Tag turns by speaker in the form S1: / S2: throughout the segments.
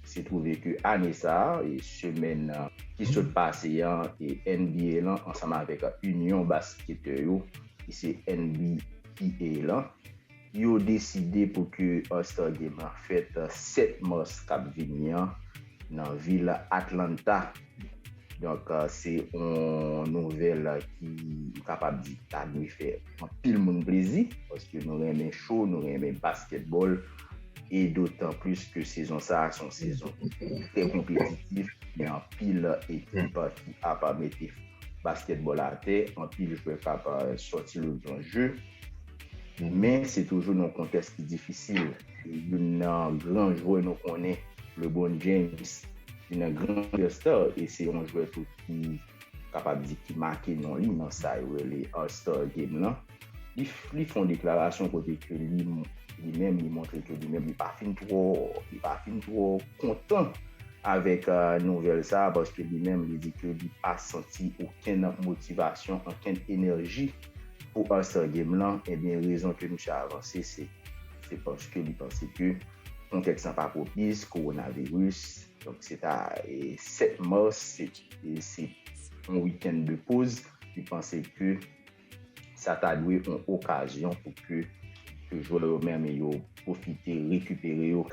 S1: Se twouve ke ane sa, semèn ki sot pase an, NBA lan ansanm avèk Inyon Basketè yo, ki se NBPA lan, yo deside pou ke All Star Game lan fèt 7 mas k ap vini an nan vil Atlanta. Donk se yon nouvèl ki m kapab di ta dwe fè anpil moun plezi paske nou renmen cho, nou renmen baskètbòl e dotan plis ke sezon sa a se yon sezon trè konpetitif. Gen anpil ekip ki ap mete baskètbòl atè, anpil jwè k ap sòti lòt bò je men se toujou nan yon kontèks ki difisil. youn nan gran jwè nou konnen Lebron James youn nan gran jwè star e se yon jwè tou ki kapab di ki make non li nan sa yo rele All Star Game lan li fon deklarasyon kote ke li li menm li montre ke li menm li pa fin twò li pa fin twò kontan avèk nouvèl sa paske li menm li di ke li pa santi okenn motivasyon ankenn enèji pou All Star Game lan ebyen rezon ke misye avanse se. Se paske li panse ke kontèks la pa pwopis, kowonaviris. Donk se ta 7 mas, se yon wikenn de poz. Li panse ke sa ta dwe yon okazyon pou ke jwè yo menm yo pwofite rekipere yo.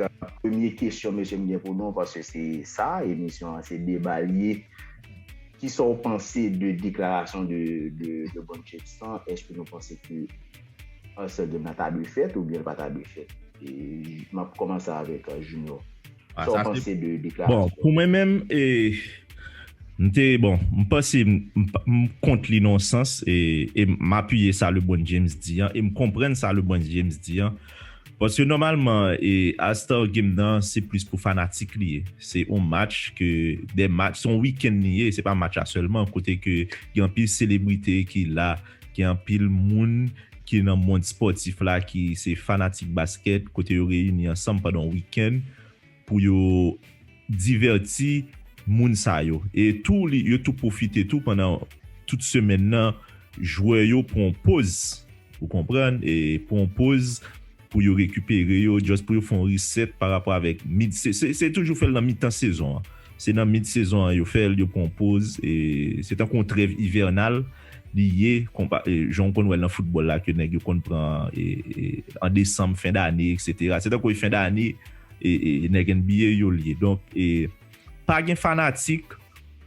S1: Premye kesyon mesye m gen pou nou, paske se sa emisyon an, se deba li ye. Kisa w panse de deklarasyon de Bon Jefferson? Èske nou panse ke. Ansè game nan ta dwe fèt oubyen l pa ta dwe fèt? E m ap kòmanse avèk Junior. Ah, Sa w sa se. panse de Bon, deklarasyon pou mwen menm,
S2: e, m te, bon, m panse m, m pa, m kont li nan yon sans, e, e m apiye sa LeBron James di an, e m konprann sa LeBron James di an. Paske nòmalman, e, All Star Game nan se plis pou fanatik li ye. Se yon match ke, de match, se yon weekend li ye, se pa match la sèlman, kote ke gen anpil selebrite ki la. Gen anpil moun ki nan mond spòtif la ki se fanatik baskèt kote yo reyini ansanm pandan yon wikenn pou yo divèti moun sa yo. E tou li yo tou pwofite tou pandan tout semèn nan jwè yo pran yon poz ou konprann e pran yon poz pou yo rekipere yo just pou yo fè yon reset pa rapò avèk mid sezon se toujou fèl nan mitan sezon an se nan mid sezon an yo fèl yo pran yon poz e se tankou yon trèv ivènal li ye konpa jan ou konn wèl nan foutbòl la ke nèg yo konn pran e an desanm fen dane eksetera se tankou fen dane e nèg NBA yo li ye donk e pa gen fanatik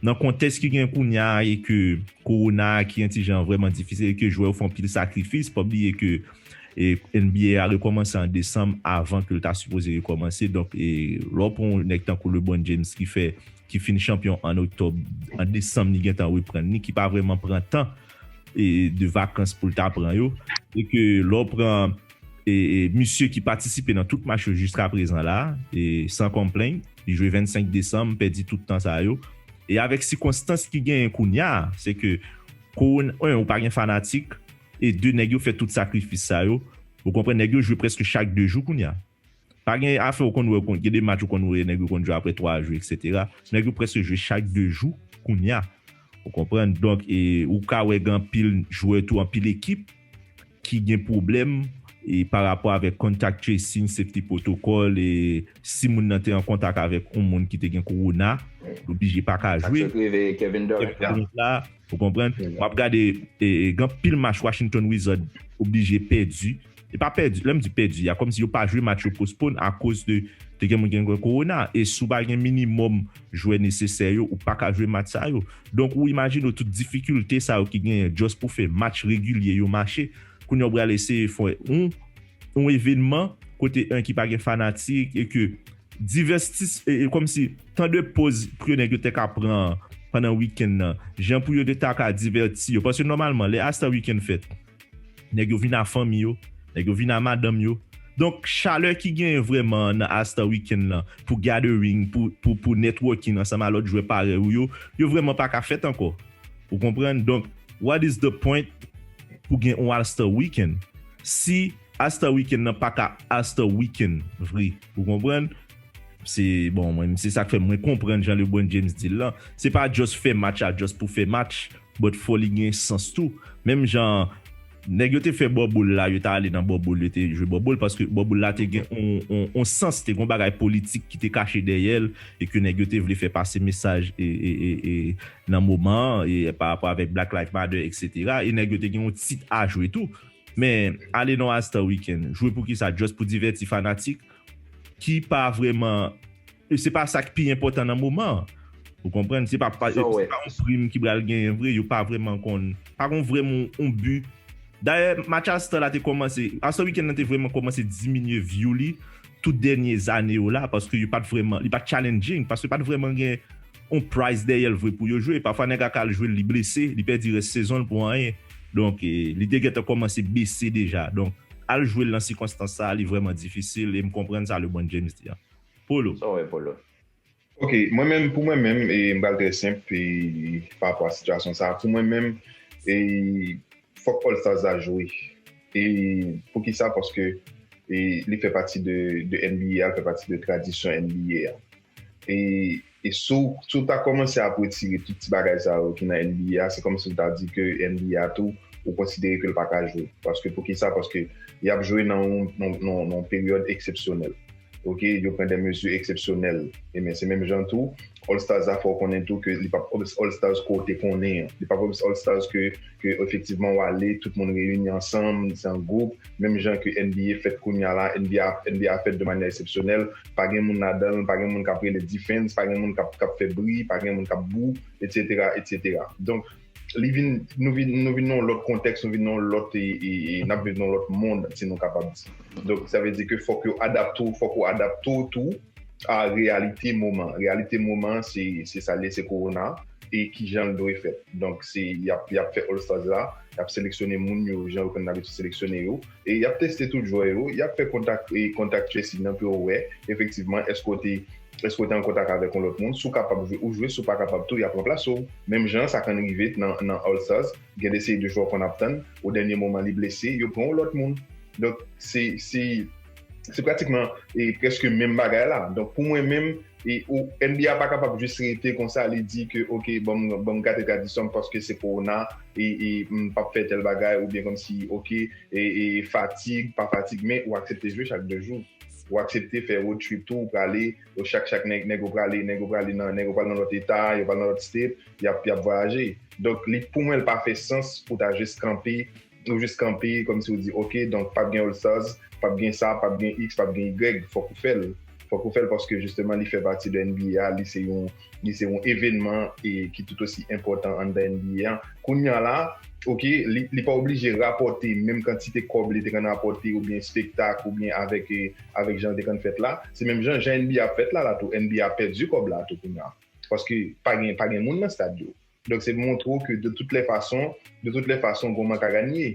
S2: nan kontèks ki gen kounya e ke kowona ki yon ti jan vrèman difisil e ke jwè yo fè anpil sakrifis pa bliye ke e nba a rekòmanse an desanm avan ke l ta sipoze rekòmanse donk e lè w pran yon nèg tankou Lebron James ki fè ki fin chanpyon an oktòb an desanm li gentan reprann li ki pa vrèman pran tan e de vakans pou l ta pran yo e ke lè w pran e misye ki patisipe nan tout match yo jiska prezan la e san konplenn li jwe 25 desanm pèdi tout tan sa yo e avèk sikonstans ki genyen kounya se ke kowona 1 ou pa gen fanatik E 2 nèg yo fè tout sakrifis sa yo, ou konprann nèg yo jwe prèske chak 2 jou kounya. Pa gen afè ou konn wè gen 2 match ou konn wè nèg yo konn jwe aprè 3 jou eksetera. Nèg yo prèske jwe chak 2 jou kounya. Ou konprann donk e ou ka wè gen anpil jwè tou anpil ekip ki gen pwoblèm e pa rapò avèk contact tracing, safety protocol e. Si moun nan te an kontak avèk yon moun ki te gen kowona, l oblije pa ka jwe. Kevin Durant
S1: la, ou konprann?
S2: W ap gade gen anpil match Washington Wizard oblije pèdi. E pa pèdi, lè m di pèdi a, kòmsi yo pa jwe match yo postpone akoz de te gen moun ki gen kowona. E si w pa gen minimòm jwè nesesè yo, ou pa ka jwe match sa yo. Donk ou imajine w tout difikilte sa yo ki genyen just pou fè match regilye yo mache. Kounye a ou pral eseye fè yon. yon evenman kote en ki pa gen fanatik e ke divès ti e e kòmsi tan de poz pou ke nèg yo te ka pran an pandan wikenn nan jan pou yo te ta ka divèti yo paske nòmalman lè as tan wikenn fèt nèg yo vin a fanmi yo nèg yo vin a madanm yo donk chalè ki genyen vrèman an nan as tan wikenn lan pou gathering pou pou pou networking ansanm a lòt jwè parèy ou yo yo vrèman pa ka fèt ankò ou konprann donk what is the point pou gen yon as tan wikenn. Si Asta weekend nan paka Asta weekend vre ou konprann se bon mwen se sak fè mwen konprann jan Lebron James dil lan se pa just fè match la just pou fè match but fò li gen sans tou menm jan nèg yo te fè bubble la yo ta ale nan bubble yo te jwe bubble paske bubble la te gen on sans te gen on bagay politik ki te kache dèyèl e ke nèg yo te vle fè pase mesaj e nan moman an e pa rapò avèk black life matter etc e nèg yo te gen on tit a jwe tou. Men ale non All Star Weekend jwe poukisa just pou divèti fanatik ki pa vrèman se pa sak pi enpòtan nan moman an ou konprann se pa se pa yon prim ki pral genyen vre yo pa vrèman konn pa gon vrèman yon bi dayè match All Star la te kòmanse All Star Weekend nan te vrèman kòmanse diminye vyou li tout dènye zane yo la paske yo pat vrèman li pat challenging paske pat vrèman gen on price dèyèl vre pou yo jwe pafwa nèg ak al jwel li blese li pèdi rès sezonl pou anyen donk li te gentan kòmanse bese deja donk al jwel nan sikonstans sa li vrèman difisil em konprann sa lebron James di an Polo. Sa w wè Polo?
S1: Ok
S3: mwen menm pou mwen menm m pral trè senp pa rapò a sitiyasyon sa pou mwen menm fòk All Stars la jwe e poukisa paske li fè pati de NBA a li fè pati de tradisyon NBA a. E si w ta kòmanse ap retire tout ti bagay sa yo ki nan NBA a, se kòmsi w ta di ke NBA a tou, ou konsidere ke l pa ka jwe. Paske poukisa? Paske y ap jwe nan yon peryòd eksepsyonèl. Ok, yo pran de mezi eksepsyonèl. Enben, se menm jan tou, All Stars la fè w konnen tou ke li p ap All Stars ke w te konnen an. Li p ap All Stars ke efektivman w ale, tout moun reyini ansanm, se an gwoup. Menm jan ke NBA fèt kounya la, NBA a fèt de manyè eksepsyonèl. pa gen moun ladan l, pa gen moun k ap rele defense, pa gen moun k ap fè bri, pa gen moun k ap bou, etsetera, etsetera. Donk, li vin, nou vin, nou vin nan yon lòt kontèks, nou vin nan yon lòt, n ap viv nan yon lòt mond, si nou kapab di. Donk, sa vle di ke fòk yo adapte w, fòk ou adapte w tou a reyalite moman an. Reyalite moman an, se, se sa l ye, se Kowona e ki jan l dwe fèt. Donk, se, y ap, y ap fè All Stars la, y ap seleksyone moun yo jan yo konn abitid seleksyone yo. Y ap teste tout jwè yo, y ap fè kontak contact tracing nan pou yo wè efektivman èske w te èske w te an kontak avèk yon lòt moun. Si w kapab jwe, ou jwe, si w pa kapab tou y ap ranplase w. Menm jan an sa konn rive nan All Stars, gen de seri de jwè w konn ap tann, o dènye moman li blese, yo pran yon lòt moun. Donk se se pratikman e prèske menm bagay la. Donk pou mwen menm, NBA pa kapab jis rete konsa li di ke ok banm gate tradisyonm paske se kowona m pap fè tèl bagay ou byen kòmsi ok fatig pa fatig men ou aksepte jwe chak 2 jou ou aksepte fè road trip tou ou prale chak chak nèg yo prale nèg yo prale nan nèg yo pral nan lòt eta yo pral nan lòt state yap vwayaje donk li pou mwen li pa fè sans pou ta jis kanpe Ou jis kanpe kòm si ou di ok donk pap gen All Stars, pap gen sa, pap gen iks, pap gen igrèg, fòk ou fè l. Fòk ou fè l paske jisteman li fè pati de NBA a, li se yon li se yon evènman e ki tout osi enpòtan anndan NBA a. Kounya la ok li li pa oblije rapòte menm kantite kòb li te konn rapòte oubyen spektak oubyen avèk avèk jan l te konn fèt la. Se menm jan jan NBA ap fèt la la tou, NBA ap pèdi kòb la tou kounya paske pa gen pa gen moun nan stad yo. Donk se montre w ke de tout lè fason, de tout lè fason gou manka ganye.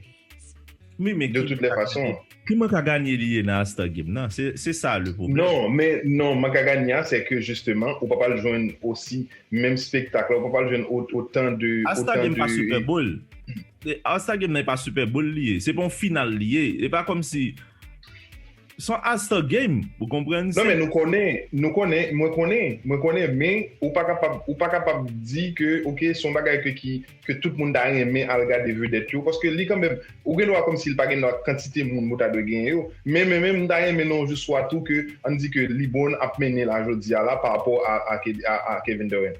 S3: Wi men
S2: ki manka
S3: ganye? Ki manka ganye li
S2: ye nan All Star Game nan? Se sa le pwoblèm. Non, men non manka
S3: ganye a se ke jisteman ou pa pral jwenn osi menm spektak la, ou pa pral jwenn otan de. All Star Game pa Super
S2: Bowl. All Star Game nan e pa Super Bowl li ye. Se pa yon final li ye. E pa kòmsi. Son Asta game ou konprann se. Non men nou konnen
S3: nou konnen mwen konnen mwen konnen men ou pa kapab ou pa kapab di ke ok son bagay ke ki ke tout moun ta renmen al gade vedèt yo paske li kanmenm ou gen dwa kòmsi li pa gen dwa kantite moun ou ta dwe genyen yo men men menm m ta renmen nan yon jou swa tou ke ann di ke Lebron ap mennen la jodi a la parapò a a Kevin Durant.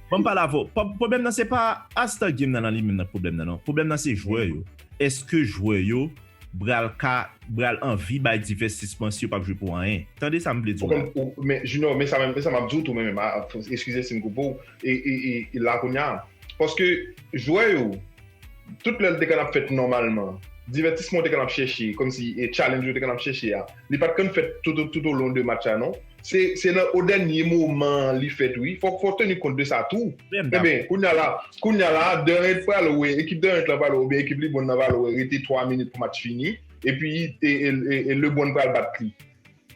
S2: Bon m pale avè w, pwoblèm nan se pa All Star Game nan nan li menm nan k pwoblèm nan non. Pwoblèm nan se jwè yo. Èske jwè yo pral ka, pral anvi bay divèstisman si yo p ap jwe pou anyen? Tande sa m vle di w la. Men Junior, men
S3: sa menm, men sa m ap di w tou menm, eskize si m koupe w, e la kounye a, paske jwè yo, tout lè l te konn ap fèt nòmalman, divètisman w te konn ap chèche, kòmsi challenge yo te konn ap chèche a, li pa t konn fèt toutolon de match la non. Se nan o dènye moman an li fèt wi. Fòk fò teni kont de sa tou. Enben, kounya la, kounya la Durant pral wè, ekip Durant lan pral wè oubyen ekip LeBron lan pral wè rete 3 minit pou match fini, epi e LeBron pral bat li.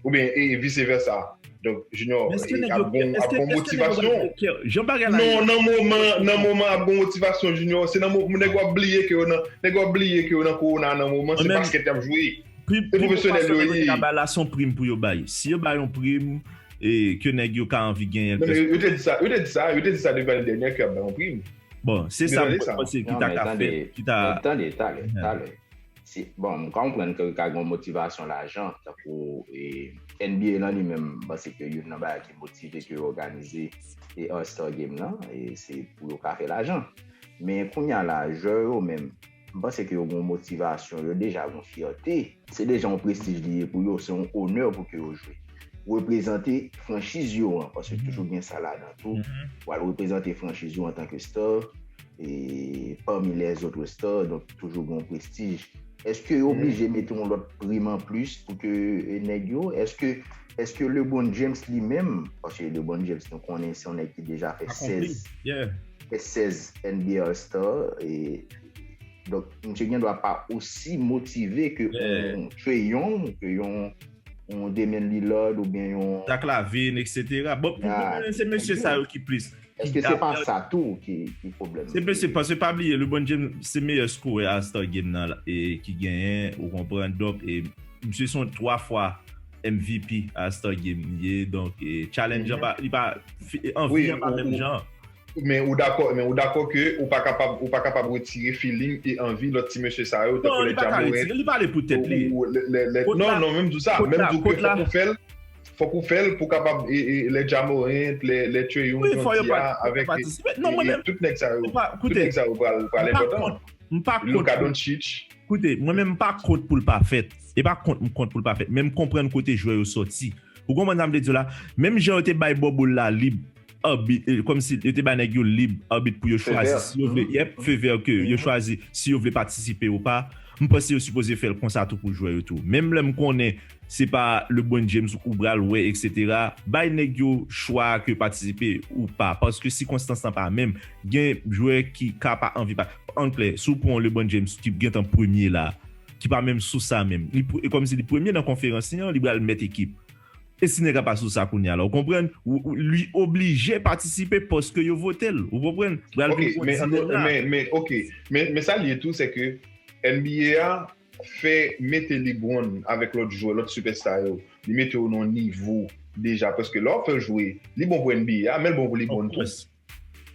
S3: Oubyen e vice versa. Donk, Junior, ap gon ap gon motivasyon. Jan bagay la ye. Non,
S2: nan moman,
S3: nan moman ap gon motivasyon Junior. Se nan moman nèg yo ap bliye ke yo nan, nèg yo ap bliye ke yo nan Corona nan moman, se basket y ap jwe. Pi bon fason
S2: nèg yo te ka bay la son prim pou yo bay. Si yo bay yon prim ke nèg yo ka anvi genyen plis. Yo te di sa, yo te
S3: di sa, yo te di sa devan dènyè ke yo ap bay yon prim. Bon, se sa mwen
S2: panse ki ta ka fèt, ki ta. Men tande, tande, tande.
S1: Bon, m konprann ke ka gen yon motivasyon lajan, tankou NBA lan li menm, m panse ke youn nan bagay ki motive ke yo òganize All Star Game lan, se pou yo ka fè lajan. Men kounye a la, jwè yo menm. M panse ke yo gen yon motivasyon, yo deja gen yon fyète. Se deja yon prestij li ye pou yo, se yon onè pou ke yo jwe. Reprezante franchiz yo an, paske toujou gen sa ladan tou. Ou al reprezante franchiz yo antanke star, e pami les autres stars, donk toujou gen yon prestij. Eske yo oblije mete yon lòt prim an plis pou ke nèg yo? Eske, eske Lebron James li menm, paske Lebron James nou konnen se yon nèg ki deja fè 16. Akonpli, yeah. 16 NBA All Star e donk misye gen dwa pa osi motive ke yon Trae Young, ke yon yon Damian Lillard ou byen yon Zach Lavine
S2: etc. Bon pou mwen se mesye sa yo ki plis. Eske se pa sa
S1: tou ki pwoblèm? Se mesye paske pa bliye
S2: LeBron James se meyè skorè All Star Game nan e ki genyen ou konprann donk e misye son 3 fwa MVP All Star Game li ye donk e challenge an pa li pa anvi an pa menm jan. Men ou dakò
S3: men ou dakò ke ou pa kapab ou pa kapab retire feeling e anvi lòt ti mesye sa yo tankou lè Jamorank
S2: ou lè lè non non
S3: menm di w sa menm di w ke fòk ou fè l fòk ou fè l pou kapab e e lè Jamorank lè lè Treyong jan w di a avèk e e tout nèg sa yo tout nèg sa yo pral pral enpòtan Luka Donchich koute mwen menm m pa
S2: kont pou l pa fèt e pa kont m kont pou l pa fèt men m konprann kote jwè yo sòti ou konprann sa m vle di w la menm jan yo te bay Bòbòl la lib Arbit, kòmsi yo te bay nèg yo lib arbit pou yo chwazi si yo vle, yep, feu vert ke yo chwazi si yo vle patisipe ou pa. M panse yo sipoze fè l konsa tou pou jwè yo tou. Menm lè m konnen se pa Lebron James ou bral wè eksetera, bay nèg yo chwa a ke patisipe ou pa paske sikonstans lan pa menm. Gen jwè ki ka pa anvi pa, an klè, si w pran yon Lebron James ki gentan premye la, ki pa menm sou sa menm, li kòmsi li premye nan konferans li an, li bral mèt ekip. E si nèg la pa sou sa kounya la ou konprann li oblije patisipe paske yo vote l ou konprann pral vin on dilema. Ok
S3: men sa l ye tou se ke NBA a fè mete Lebron avèk lòt jwè lòt sipèsta yo li mete yo nan yon nivo deja paske lè w ap fè l jwe li bon pou NBA a men l bon pou Lebron tou.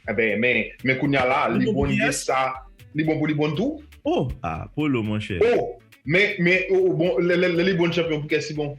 S3: Enben men men kounya la li bon gen sa li bon pou li bon tou? Oh ah polo
S2: monchè. Oh men men
S3: oh bon lè li bon chanpyon pou kè si bon?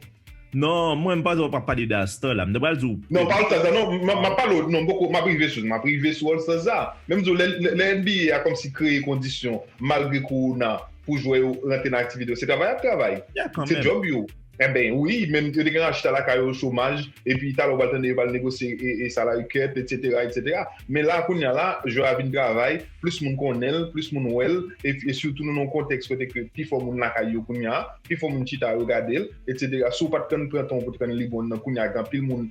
S3: Non mwen
S2: m panse wap ap pale de All Star la m ta pral di w Non m pa All Star sa non
S3: map pale w non m poko map rive sou li map rive sou All Star sa men m di w lè NBA a kòmsi kreye kondisyon malgre kowona pou jwè yo rantre nan aktivite yo se travay yap travay se djòb yo. Enben wi menm yo te gen achita lakay yo chomaj epi talè ou pral tande yo pral negosye salary cut etc etc men la kounya la jwè a vin travay plis moun konnen l plis moun wè l e sitou nou nan yon kontèks kote ke pi fò moun lakay yo kounya pi fò moun chita yo gade l etc si w pat konn pran tan w pou t konn li bon nan kounya gen anpil moun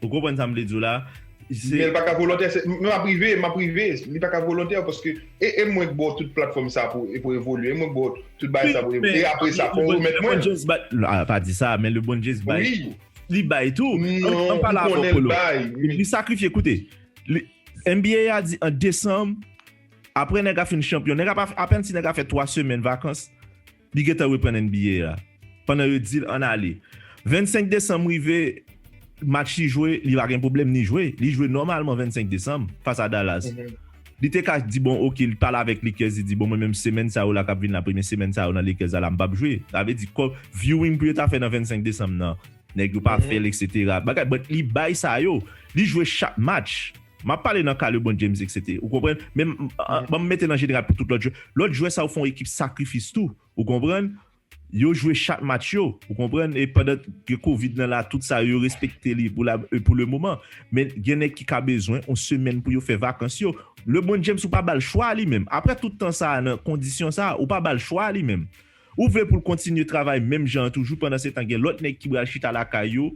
S2: Ou konprann sa m vle di w la? Men l pa ka
S3: volontè, m ap rive, m ap rive. Li pa ka volontè paske e mwen k ba w tout platfòm sa pou evolye, e mwen k ba w tout bagay sa pou evolye. E apre sa, fò w remèt mwen l. Lebondye pa di sa, men
S2: Lebondye bay tou. Li bay
S3: tou.
S2: Non, m konnen
S3: l bay. Li sakrifye,
S2: koute. NBA a di an desanm, apre nèg a fin chanpyon, nèg a pa, apenn si nèg a fè 3 semèn vakans. Li gentan reprann NBA a. Pandan yo di l ann ale. 25 desanm rive, match li jwe, li pa gen pwoblèm ni jwe. Li jwe nòmalman 25 desanm fas a Dallas. Li te ka di bon ok, li pale avèk Lakers, li di bon mwen menm semèn sa yo la k ap vin la, premye semèn sa yo nan Lakers a la m p ap jwe. Sa vle di kòm viewing pou yo ta fè nan 25 desanm nan, nèg yo pa fè l eksetera. Bagay, but li bay sa yo. Li jwe chak match. Map pale nan ka Lebron James etc. Ou konprann? Men banm mete nan jeneral pou tout lòt jwè. Lòt jwè sa yo fon ekip sakrifis tou. Ou konprann? Yo jwe chak match yo. Ou konprann? E pandan ke covid nan la tout sa yo yo respekte li pou la pou le moman. Men gen nèg ki ka bezwen yon semèn pou yo fè vakans yo. Lebron James ou pa bal chwa li menm. Aprè tout tan sa nan kondisyon sa ou pa bal chwa li menm. Ou vle poul kontinye travay menm jan an toujou pandan setan gen lòt nèg ki bal chita lakay yo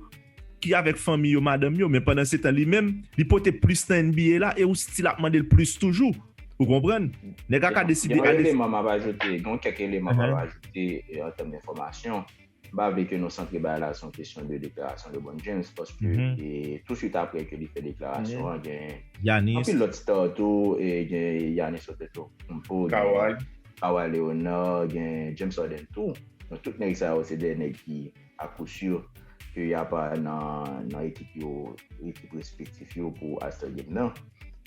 S2: ki avèk fanmi yo madanm yo men pandan setan li menm li pote plis nan NBA la e ou stil ap mandel plis toujou ou konprann nèg la ka deside Yon eleman map ajoute
S1: gon kèk eleman map ajoute an tèm de enfòmasyon m pa vle ke nou santre bagay la son kesyon de deklarasyon Lebron James paske tou swit aprè ke li fè deklarasyon an gen anpil
S2: lòt star
S1: tou gen Yanis Antetokounmpo gen Kawhi Leonard, gen James Harden tou. Donk tout nèg sa yo se 2 nèg ki a kou si ke y ap nan ekip yo, ekip respektif yo pou All Star Game nan.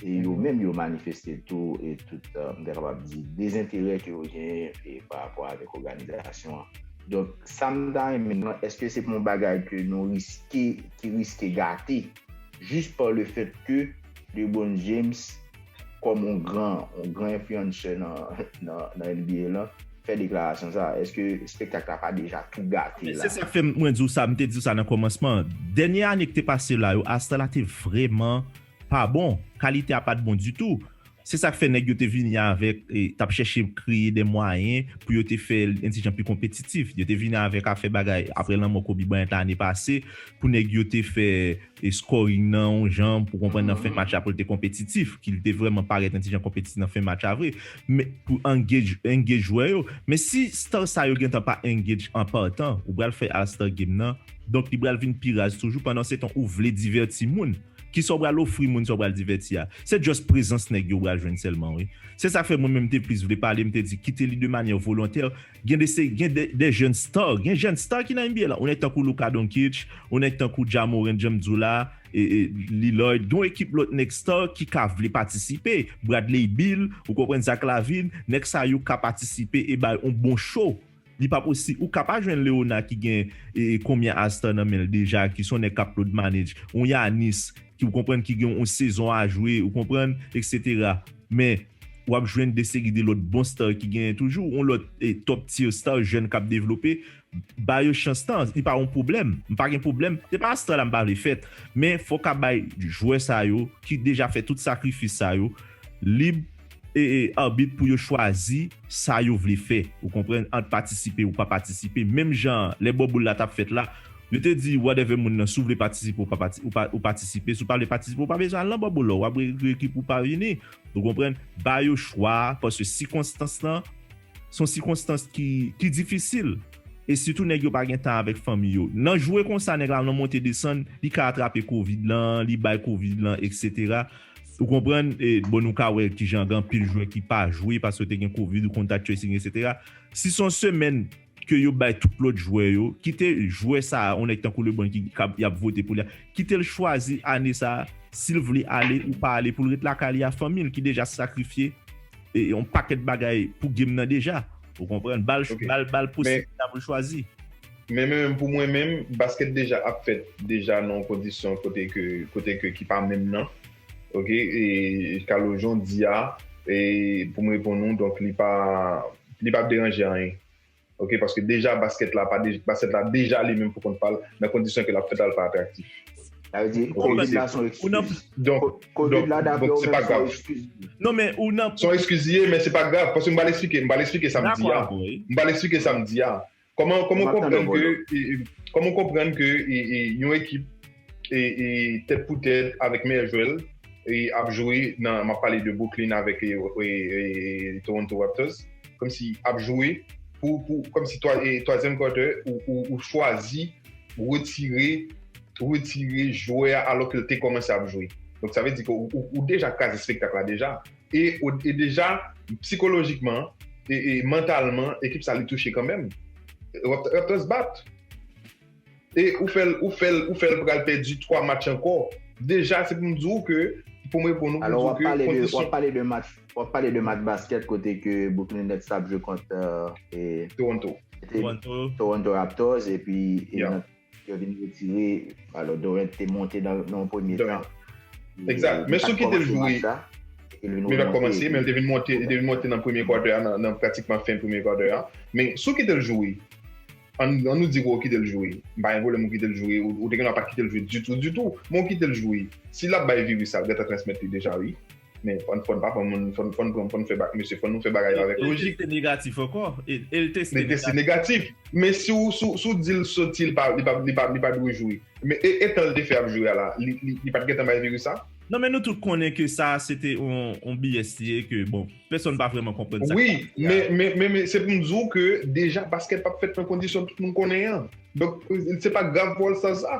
S1: E yo menm yo manifeste tou e tout, m ta kapab di, dezenterè ke yo genyen pa rapò avèk òganizasyon an. Donk sa m ta renmen, èske se pa yon bagay ke nou riske, ki riske gate? Jis pa le fèt ke Lebron James kòm yon gran yon gran enfliyansè nan nan NBA lan fè deklarasyon sa èske espektak la pa deja tou gate la? Men se sak fè mwen diw sa, m
S2: te diw sa nan kòmansman an. Dènye ane ki te pase la yo Astana te vrèman pa bon, kalite a pat bon ditou. Se sa k fè nèg yo te vini avèk, t ap chèche kreye de mwayen pou yo te fè Indijan pi konpetitif. Yo te vini avèk afè bagay apre lanmò Kobe Bryant ane pase pou nèg yo te fè scoring nan yon jan pou konprann nan fen match la pou l te konpetitif, ki l te vrèman parèt Indijan konpetitif nan fen match la vre. Men, pou engage, engage jwè yo. Men si star sa yo gentan pa engage an partan, ou pral fè All Star Game nan, donk li pral vin pi raz toujou, pandansetan ou vle divèti moun. Kisa w pral ofri moun sa w pral divèti a? Se just prezans nèg yo w pral jwenn sèlman wi. Se sa k fè mwen menm m te plis vle pale, m te di kite li de manyè volontè. Gen de se gen de jèn star, gen jèn star ki nan NBA la. Yon nèg tankou Luka Doncic, yon nèg tankou Ja Morant jan m di w la, Lillard, gen yon ekip lòt nèg star ki ka vle patisipe. Bradley Beal, ou konprann, Zach LaVine, nèg sa yo ka patisipe e bay yon bon show. Li pa posi ou ka pa jwenn Leona ki gen konbyen a star nan menl deja ki son nèg kap load manage on Yanis ki ou konprann ki gen on sezon a jwe ou konprann etc men wap jwenn de seri de lòt bon star ki gen toujou on lòt top tier star jèn kap devlope ba yo chans tan li pa on pwoblèm m pa gen pwoblèm se pa star la m pa vle fèt men fò ka bay jwè sa yo ki deja fè tout sakrifis sa yo lib arbit pou yo chwazi sa yo vle fè ou konprann ant patisipe ou pa patisipe menm jan lè bo boul la tap fèt la yo te di whatever moun nan si w vle patisipe ou pa pati ou patisipe si w pa vle patisipe ou pa bezwen al nan bo boul la w ap regret pou w pa vini ou konprann ba yo chwa a paske sikonstans lan se yon sikonstans ki ki difisil e sitou nèg yo pa gen tan avèk fanmi yo nan jwe konsa nèg la nan monte desann li ka atrape covid lan li bay covid lan etc Ou konprann, e bon nou ka wè kijan gen anpil jwè ki pa jwe paske te gen covid ou contact tracing etc. Si son semèn ke yo bay tout lòt jwè yo, kite jwè sa a, yon nèg tankou Lebron ki kab yap vote pou li a, kite l chwazi ane sa a si l vle ale ou pa ale pou l ret lakay li a fanmi l ki deja sakrifye e yon pakèt bagay pou game nan deja. Ou konprann? Ba l Ok. ba l ba l Men posiblite a pou l chwazi. Men menm
S3: pou mwen menm, basket deja ap fèt deja nan yon kondisyon kote ke, kote ke ki pa menm nan. Ok, e Carlo jan w di a, e pou m reponn ou, donk li pa, li pa deranje anyen. Ok, paske deja basket la pa, basket la deja li menm pou kont pa l, nan kondisyon ke l ap fèt la l pa atraktif. Sa vle di
S1: Covid la son ekskiz. Donk, Covid
S3: la daprè w menm son ekskiz. Non men ou
S2: nan. Son ekskiz li ye men se pa
S3: grav, paske m pral esplike, m pral esplike sa m di a. Dakò avè w wi. M pral esplike sa m di a. Koman ou konprann ke, koman ou konprann ke yon ekip tèt pou tèt avèk meyè jwè l ap jwe nan, map pale de Brooklyn avèk Toronto Raptors, komsi ap jwe pou, komsi twazyèm quarter ou chwazi retire, retire jwè a alò ke l te kòmanse ap jwe. Donk sa vle di ke ou deja kraze spektak la deja. E e deja psikolojikman e e mantalman ekip sa li touche kanmenm. Raptors bat. E ou fèl ou fèl ou fèl pral pèdi 3 match ankò. Deja se pou m di w ke pou m reponn ou pou m di w ke kondisyon. Alò wap
S1: pale de match wap pale de match basket kote ke Brooklyn Nets tap jwe kont e Toronto. Toronto. Toronto Raptors epi e nan. Yo vin retire, alo Dorent te monte nan yon premye tan. Exact,
S3: men sou ki te jwe, li pat komanse, men li te vin monte, li te vin monte nan premye quarter an, nan pratikman fen premye quarter an, men sou ki te l jwe, an nou di ke w kite l jwe, m pa gen pwoblèm ou kite l jwe, ou te gen dwa pa kite l jwe ditou ditou, men w kite l jwe, si l ap bay viris la, ou gentan transmèt li deja wi. Men fòn fòn pa pran moun fòn fòn pran fòn fè bak mesye fòn nou fè bagay yo avèk lojik. El teste negatif ankò
S2: el teste negatif
S3: men si ou si ou di l soti li pa li pa li pa dwe jwe men e tan l te fè ap jwe a la li li li pat gentan bay viris sa? Non men nou tout konnen
S2: ke sa se te yon BS li ye ke bon pèsòn pa vrèman konprann sa k pase a. Wi men men
S3: men se pou m di w ke deja baskèt pap fèt nan kondisyon tout moun konnen an donk se pa grav pou All Stars sa.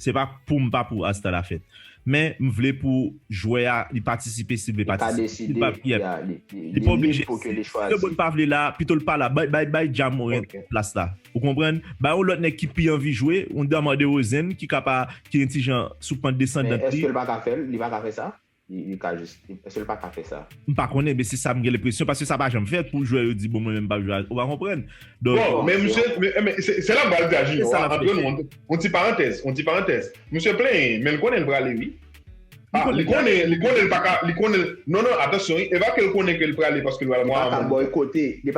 S2: Se pa poum pa pou Asta la fèt. Men m vle pou jwè a li patisipe sil vle patisipe. Sil pa vle ya li li pa oblije. Si lebron pa vle la pitol pa la bay bay Ja Morant plas la ou konprann. Bay yon lòt nèg ki pi anvi jwe yon Demar Derozan ki ka pa ki yon ti jan sou pant desandan li. Men eskel pa ka fèl
S1: li pa ka fè sa? Li ka jis, eske li pa ka fè sa? M pa konnen men se sa
S2: m gen lenpresyon paske sa pa janm fèt pou jwè yo di bon mwen menm m pap jwe ou pa konprann donk Bon men
S3: misye se la m pral di a Junior a antre nou yon ti parantèz yon ti parantèz misye plenyen men l konnen l prale wi a li konnen li konnen l paka li konnen l non non atansyon wi e pa ke l konnen ke l prale paske l pral mò a manman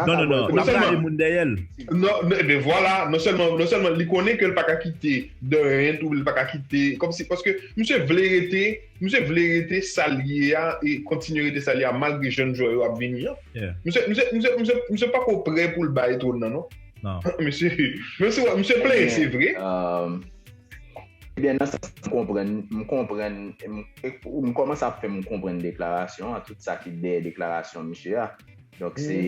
S1: non non non la pa
S2: gen moun dèyè l non e
S3: ben vwala non sèlman non sèlman li konnen ke l paka kite de 1 tou li paka kite kòmsi paske misye vle rete Misye vle rete sal ye a e kontinye rete sal ye a malgre jèn jwè yo ap vini an. Misye pako prè pou l bay twòn nan non. Misye plenyen se vre.
S1: Ebyen nan sans m konprann, m konprann, m kòmanse ap fè m konprann deklarasyon an, tout sa ki dèyè deklarasyon misye a. Donk se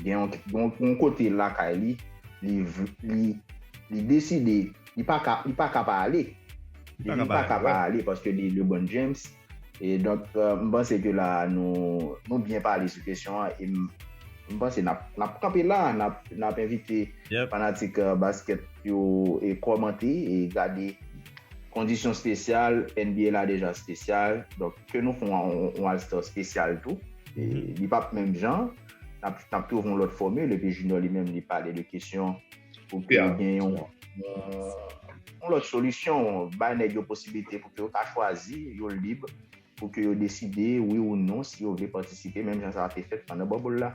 S1: gen yon kote lakay li, li deside. Li pa ka, li pa ka pa ale. Li pa ka pa ale, wè. Li pa ka pa ale paske li LeBron James. E donk, m panse ke la a nou, nou byen pale sou kesyon an e m m panse n ap, n ap kanpe la a, n ap, n ap envite fanatik baskèt yo e kòmante e gade kondisyon spesyal, NBA la deja spesyal, donk ke nou fon yon All Star spesyal tou. E li p ap menm jan, n ap, n ap twouve yon lòt fòmil epi Junior li menm li pale de kesyon. Pou ke ap gen yon lòt solisyon, bay nèg yo posibilite pou ke yo ka chwazi, yo lib pou ke yo deside wi ou non si yo vle patisipe menm jan sa te fèt pandan bubble la.